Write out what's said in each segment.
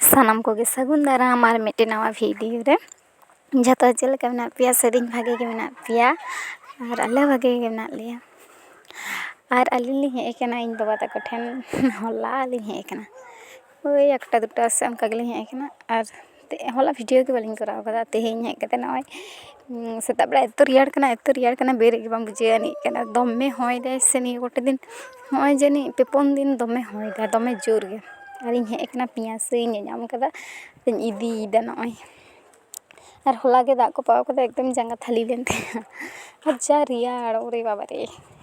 ᱥᱟᱱᱟᱢ ᱠᱚᱜᱮ ᱥᱟᱹᱜᱩᱱ ᱫᱟᱨᱟᱢ ᱟᱨ ᱢᱤᱫᱴᱮᱱ ᱱᱟᱣᱟ ᱵᱷᱤᱰᱤᱭᱳ ᱨᱮ ᱡᱚᱛᱚ ᱪᱮᱫ ᱞᱮᱠᱟ ᱢᱮᱱᱟᱜ ᱯᱮᱭᱟ ᱥᱟᱹᱨᱤᱜᱮ ᱵᱷᱟᱜᱮ ᱜᱮ ᱢᱮᱱᱟᱜ ᱯᱮᱭᱟ ᱟᱨ ᱟᱞᱮ ᱦᱚᱸ ᱵᱷᱟᱜᱮ ᱜᱮ ᱢᱮᱱᱟᱜ ᱞᱮᱭᱟ ᱟᱨ ᱟᱹᱞᱤᱧ ᱞᱤᱧ ᱦᱮᱡ ᱠᱟᱱᱟ ᱤᱧ ᱵᱟᱵᱟ ᱛᱟᱠᱚ ᱴᱷᱮᱱ ᱦᱚᱞᱟ ᱞᱤᱧ ᱦᱮᱡ ᱠᱟᱱᱟ ᱳᱭ ᱮᱠᱴᱟ ᱫᱩᱴᱟ ᱥᱮᱫ ᱚᱱᱠᱟ ᱜᱮᱞᱤᱧ ᱦᱮᱡ ᱠᱟᱱᱟ ᱟᱨ ᱦᱚᱞᱟ ᱵᱷᱤᱰᱤᱭᱳ ᱜᱮ ᱵᱟᱹᱞᱤᱧ ᱠᱚᱨᱟᱣ ᱠᱟᱫᱟ ᱛᱮᱦᱮᱧ ᱦᱮᱡ ᱠᱟᱛᱮ ᱱᱚᱜᱼᱚᱭ ᱥᱮᱛᱟᱜ ᱵᱮᱲᱟ ᱮᱛᱚ ᱨᱮᱭᱟᱲ ᱠᱟᱱᱟ ᱮᱛᱚ ᱨᱮᱭᱟᱲ ᱠᱟᱱᱟ ᱵᱮᱨᱮᱫ ᱜᱮ ᱵᱟᱝ ᱵᱩᱡᱷᱟᱹᱣ ᱟᱹᱱᱤᱡ ᱠᱟᱱᱟ ᱫᱚᱢᱮ ᱦᱚᱭ ᱫᱟᱭ ᱥᱮ ᱱᱤᱭᱟᱹ ᱠᱚᱴᱟ ᱫᱤᱱ ᱦᱚᱸᱜᱼᱚᱭ ᱡᱟᱹᱱᱤᱡ ᱯᱮ ᱯᱩᱱ ᱫᱤᱱ ᱫᱚᱢᱮ ᱦᱚᱭᱫᱟᱭ ᱫᱚᱢᱮ ᱡᱳᱨ ᱜᱮ ᱟᱨᱤᱧ ᱦᱮᱡ ᱠᱟᱱᱟ ᱯᱮᱸᱭᱟᱡᱽ ᱥᱟᱹᱭ ᱤᱧ ᱧᱟᱢ ᱠᱟᱫᱟ ᱟᱨᱤᱧ ᱤᱫᱤᱭᱮᱫᱟ ᱱᱚᱜᱼᱚᱭ ᱟᱨ ᱦᱚᱞᱟ ᱜᱮ ᱫᱟᱜ ᱠᱚ ᱯᱟᱣ ᱠᱟᱫᱟᱭ ᱮᱠᱫᱚᱢ ᱡᱟᱸᱜᱟ ᱛᱷᱟᱹᱞᱤ ᱞᱮᱱ ᱛᱤᱧᱟᱹ ᱟᱨ ᱡᱟ ᱨᱮᱭᱟᱲ ᱳᱨᱮ ᱵᱟᱵᱟ ᱨᱮ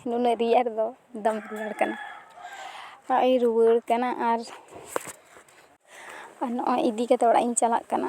ᱱᱩᱱᱟᱹᱜ ᱨᱮᱭᱟᱲ ᱫᱚ ᱫᱚᱢᱮ ᱨᱮᱭᱟᱲ ᱠᱟᱱᱟ ᱚᱲᱟᱜ ᱤᱧ ᱨᱩᱣᱟᱹᱲ ᱠᱟᱱᱟ ᱟᱨ ᱟᱨ ᱱᱚᱜᱼᱚᱭ ᱤᱫᱤ ᱠᱟᱛᱮ ᱚᱲᱟᱜ ᱤᱧ ᱪᱟᱞᱟᱜ ᱠᱟᱱᱟ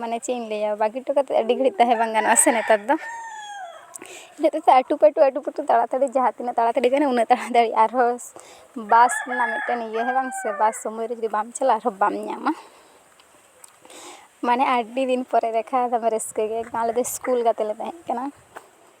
ᱢᱟᱱᱮ ᱪᱮᱫ ᱤᱧ ᱞᱟᱹᱭᱟ ᱵᱟᱹᱜᱤ ᱦᱚᱴᱚ ᱠᱟᱛᱮ ᱟᱹᱰᱤ ᱜᱷᱟᱹᱲᱤᱡ ᱛᱟᱦᱮᱸ ᱵᱟᱝ ᱜᱟᱱᱚᱜᱼᱟ ᱥᱮ ᱱᱮᱛᱟᱨ ᱫᱚ ᱤᱱᱟᱹ ᱦᱚᱛᱮᱡ ᱛᱮ ᱟᱹᱴᱩ ᱯᱟᱹᱴᱩ ᱟᱹᱴᱩ ᱯᱟᱹᱴᱩ ᱛᱟᱲᱟ ᱛᱟᱹᱲᱤ ᱡᱟᱦᱟᱸ ᱛᱤᱱᱟᱹᱜ ᱛᱟᱲᱟ ᱛᱟᱹᱲᱤ ᱜᱟᱱᱚᱜᱼᱟ ᱩᱱᱟᱹᱜ ᱛᱟᱲᱟ ᱛᱟᱹᱲᱤ ᱟᱨᱦᱚᱸ ᱵᱟᱥ ᱨᱮᱱᱟᱜ ᱢᱤᱫᱴᱮᱱ ᱤᱭᱟᱹ ᱦᱮᱸ ᱵᱟᱝ ᱥᱮ ᱵᱟᱥ ᱥᱚᱢᱚᱭ ᱨᱮ ᱡᱩᱫᱤ ᱵᱟᱢ ᱪᱟᱞᱟᱜᱼᱟ ᱟᱨᱦᱚᱸ ᱵᱟᱢ ᱧᱟᱢᱟ ᱢᱟᱱᱮ ᱟᱹᱰᱤ ᱫᱤᱱ ᱯᱚᱨᱮ ᱫᱮᱠᱷᱟ ᱫᱚᱢᱮ ᱨᱟᱹᱥᱠᱟᱹ ᱜᱮ ᱮᱠᱫᱚᱢ ᱟᱞᱮ ᱫᱚ ᱤᱥᱠᱩᱞ ᱜᱟᱛᱮ ᱞᱮ ᱛᱟᱦᱮᱸ ᱠᱟᱱᱟ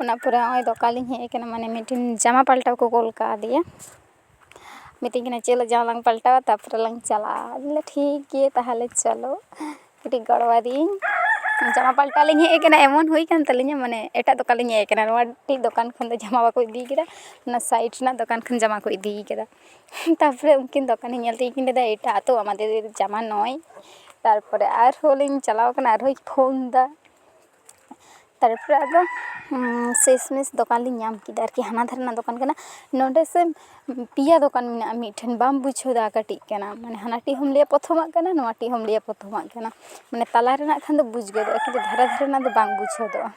ᱚᱱᱟ ᱯᱚᱨᱮ ᱱᱚᱜᱼᱚᱭ ᱫᱚᱠᱟᱱᱤᱧ ᱦᱮᱡ ᱟᱠᱟᱱᱟ ᱢᱟᱱᱮ ᱢᱤᱫᱴᱮᱱ ᱡᱟᱢᱟ ᱯᱟᱞᱴᱟᱣ ᱠᱚ ᱠᱳᱞ ᱠᱟᱣᱫᱮᱭᱟ ᱢᱤᱛᱟᱹᱧ ᱠᱟᱱᱟᱭ ᱪᱮᱫ ᱞᱟᱹᱜᱤᱫ ᱡᱟᱢᱟ ᱞᱟᱝ ᱯᱟᱞᱴᱟᱣᱟ ᱛᱟᱨᱯᱚᱨᱮ ᱞᱟᱝ ᱪᱟᱞᱟᱜᱼᱟ ᱟᱫᱚᱧ ᱢᱮᱱᱫᱟ ᱴᱷᱤᱠ ᱜᱮᱭᱟ ᱛᱟᱦᱚᱞᱮ ᱪᱚᱞᱚ ᱠᱟᱹᱴᱤᱡ ᱜᱚᱲᱚ ᱟᱫᱮᱭᱟᱹᱧ ᱡᱟᱢᱟ ᱯᱟᱞᱴᱟᱣ ᱞᱤᱧ ᱦᱮᱡ ᱟᱠᱟᱱᱟ ᱮᱢᱚᱱ ᱦᱩᱭ ᱠᱟᱱ ᱛᱟᱹᱞᱤᱧᱟ ᱢᱟᱱᱮ ᱮᱴᱟᱜ ᱫᱚᱠᱟᱱ ᱞᱤᱧ ᱦᱮᱡ ᱟᱠᱟᱱᱟ ᱱᱚᱣᱟ ᱴᱤᱡ ᱫᱚᱠᱟᱱ ᱠᱷᱚᱱ ᱫᱚ ᱡᱟᱢᱟ ᱵᱟᱠᱚ ᱤᱫᱤ ᱠᱟᱫᱟ ᱚᱱᱟ ᱥᱟᱭᱤᱰ ᱨᱮᱱᱟᱜ ᱫᱚᱠᱟᱱ ᱠᱷᱚᱱ ᱡᱟᱢᱟ ᱠᱚ ᱤᱫᱤ ᱠᱟᱫᱟ ᱛᱟᱨᱯᱚᱨᱮ ᱩᱱᱠᱤᱱ ᱫᱚᱠᱟᱱᱤ ᱧᱮᱞ ᱛᱮᱜᱮ ᱠᱤᱱ ᱞᱟᱹᱭᱫᱟ ᱮᱴᱟᱜ ᱛᱚ ᱟᱢᱟᱫᱮᱨ ᱡᱟᱢᱟ ᱱᱚᱭ ᱛᱟᱨᱯᱚᱨᱮ ᱟᱨᱦᱚᱸ ᱞᱤᱧ ᱪᱟᱞᱟᱣ ᱠᱟᱱᱟ ᱟᱨᱦᱚᱸᱭ ᱯᱷᱳᱱ ᱫᱟ ᱛᱟᱨᱯᱚᱨᱮ ᱟᱫᱚ ᱥᱮᱥ ᱢᱮᱥ ᱫᱚᱠᱟᱱ ᱞᱤᱧ ᱧᱟᱢ ᱠᱮᱫᱟ ᱟᱨᱠᱤ ᱦᱟᱱᱟ ᱫᱷᱟᱨᱮ ᱨᱮᱱᱟᱜ ᱫᱚᱠᱟᱱ ᱠᱟᱱᱟ ᱱᱚᱰᱮ ᱥᱮ ᱯᱮᱭᱟ ᱫᱚᱠᱟᱱ ᱢᱮᱱᱟᱜᱼᱟ ᱢᱤᱫ ᱴᱷᱮᱱ ᱵᱟᱢ ᱵᱩᱡᱷᱟᱹᱣ ᱫᱟᱲᱮᱭᱟᱜᱼᱟ ᱠᱟᱹᱴᱤᱡ ᱠᱟᱱᱟ ᱢᱟᱱᱮ ᱦᱟᱱᱟᱴᱟᱜ ᱦᱚᱸᱢ ᱞᱟᱹᱭᱟ ᱯᱨᱚᱛᱷᱚᱢᱟᱜ ᱠᱟᱱᱟ ᱱᱚᱣᱟᱴᱟᱜ ᱦᱚᱸᱢ ᱞᱟᱹᱭᱟ ᱯᱨᱚᱛᱷᱚᱢᱟᱜ ᱠᱟᱱᱟ ᱢᱟᱱᱮ ᱛᱟᱞᱟ ᱨᱮᱱᱟᱜ ᱠᱷᱟᱱ ᱫᱚ ᱵᱩᱡᱽ ᱜᱚᱫᱚᱜᱼᱟ ᱠᱤᱱᱛᱩ ᱫᱷᱟᱨᱮ ᱫᱷᱟᱨᱮ ᱨᱮᱱᱟᱜ ᱫᱚ ᱵᱟᱝ ᱵᱩᱡᱽ ᱦᱚᱫᱚᱜᱼᱟ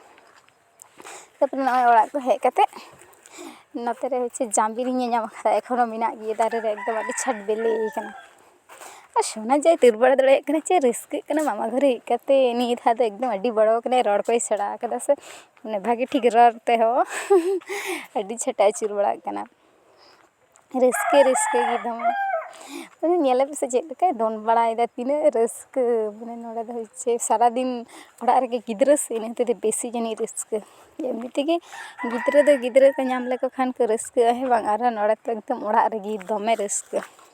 ᱛᱟᱨᱯᱚᱨᱮ ᱱᱚᱜᱼᱚᱭ ᱚᱲᱟᱜ ᱠᱚ ᱦᱮᱡ ᱠᱟᱛᱮ ᱱᱚᱛᱮ ᱨᱮ ᱦᱚᱪᱪᱷᱮ ᱡᱟᱢᱵᱤᱞᱤᱧ ᱧᱮᱞ ᱧᱟᱢ ᱠᱟᱫᱟ ᱮᱠᱷᱚᱱᱳ ᱢᱮᱱᱟᱜ ᱜᱮᱭᱟ ᱫᱟᱨᱮ ᱨᱮ ᱮᱠᱫᱚᱢ ᱟᱹᱰᱤ ᱪᱷᱟᱴ ᱵᱮᱞᱮᱭ ᱠᱟᱱᱟ ᱟᱨ ᱥᱳᱱᱟ ᱡᱟᱭ ᱫᱟᱹᱲ ᱵᱟᱲᱟ ᱫᱟᱲᱮᱭᱟᱜ ᱠᱟᱱᱟᱭ ᱪᱮᱫ ᱨᱟᱹᱥᱠᱟᱹᱜ ᱠᱟᱱᱟ ᱢᱟᱢᱟ ᱜᱷᱚᱨᱮ ᱦᱮᱡ ᱠᱟᱛᱮ ᱱᱤᱭᱟᱹ ᱫᱷᱟᱣ ᱫᱚ ᱮᱠᱫᱚᱢ ᱟᱹᱰᱤ ᱵᱚᱲᱚ ᱠᱟᱱᱟᱭ ᱨᱚᱲ ᱠᱚᱭ ᱥᱮᱬᱟ ᱠᱟᱫᱟ ᱥᱮ ᱢᱟᱱᱮ ᱵᱷᱟᱜᱮ ᱴᱷᱤᱠ ᱨᱚᱲ ᱛᱮᱦᱚᱸ ᱟᱹᱰᱤ ᱪᱮᱦᱨᱟᱭ ᱟᱹᱪᱩᱨ ᱵᱟᱲᱟᱜ ᱠᱟᱱᱟ ᱨᱟᱹᱥᱠᱟᱹ ᱨᱟᱹᱥᱠᱟᱹ ᱜᱮ ᱫᱚᱢᱮ ᱢᱟᱱᱮ ᱧᱮᱞᱮ ᱯᱮᱥᱮ ᱪᱮᱫ ᱞᱮᱠᱟᱭ ᱫᱚᱱ ᱵᱟᱲᱟᱭᱮᱫᱟ ᱛᱤᱱᱟᱹᱜ ᱨᱟᱹᱥᱠᱟᱹ ᱢᱟᱱᱮ ᱱᱚᱰᱮ ᱫᱚ ᱦᱚᱪᱪᱷᱮ ᱥᱟᱨᱟᱫᱤᱱ ᱚᱲᱟᱜ ᱨᱮᱜᱮ ᱜᱤᱫᱽᱨᱟᱹ ᱥᱮ ᱤᱱᱟᱹ ᱦᱚᱛᱮᱡ ᱛᱮ ᱵᱮᱥᱤ ᱡᱟᱹᱱᱤᱡ ᱨᱟᱹᱥᱠᱟᱹ ᱮᱢᱱᱤ ᱛᱮᱜᱮ ᱜᱤᱫᱽᱨᱟᱹ ᱫᱚ ᱜᱤᱫᱽᱨᱟᱹ ᱠᱚ ᱧᱟᱢ ᱞᱮᱠᱚ ᱠᱷᱟᱱ ᱠᱚ ᱨᱟᱹᱥᱠᱟᱹᱜᱼᱟ ᱦᱮᱸ ᱵᱟᱝ ᱟᱨᱚ ᱱᱚᱰᱮ ᱛᱚ ᱮᱠᱫᱚᱢ ᱚᱲᱟᱜ ᱨᱮᱜᱮ ᱫᱚᱢᱮ ᱨᱟᱹᱥᱠᱟᱹ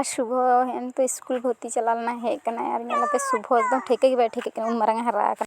ᱟᱨ ᱥᱩᱵᱷᱚ ᱦᱮᱸᱜᱼᱮ ᱱᱤᱛᱳᱜ ᱤᱥᱠᱩᱞ ᱵᱷᱩᱨᱛᱤ ᱪᱟᱞᱟᱣ ᱞᱮᱱᱟᱭ ᱦᱮᱡ ᱠᱟᱱᱟᱭ ᱟᱨ ᱧᱮᱞᱮᱯᱮ ᱥᱩᱵᱷᱚ ᱮᱠᱫᱚᱢ ᱴᱷᱤᱠᱟᱹ ᱜᱮ ᱵᱟᱭ ᱴᱷᱤᱠᱟᱹᱜ ᱠᱟᱱᱟ ᱩᱱ ᱢᱟᱨᱟᱝᱮ ᱦᱟᱨᱟ ᱟᱠᱟᱱᱟ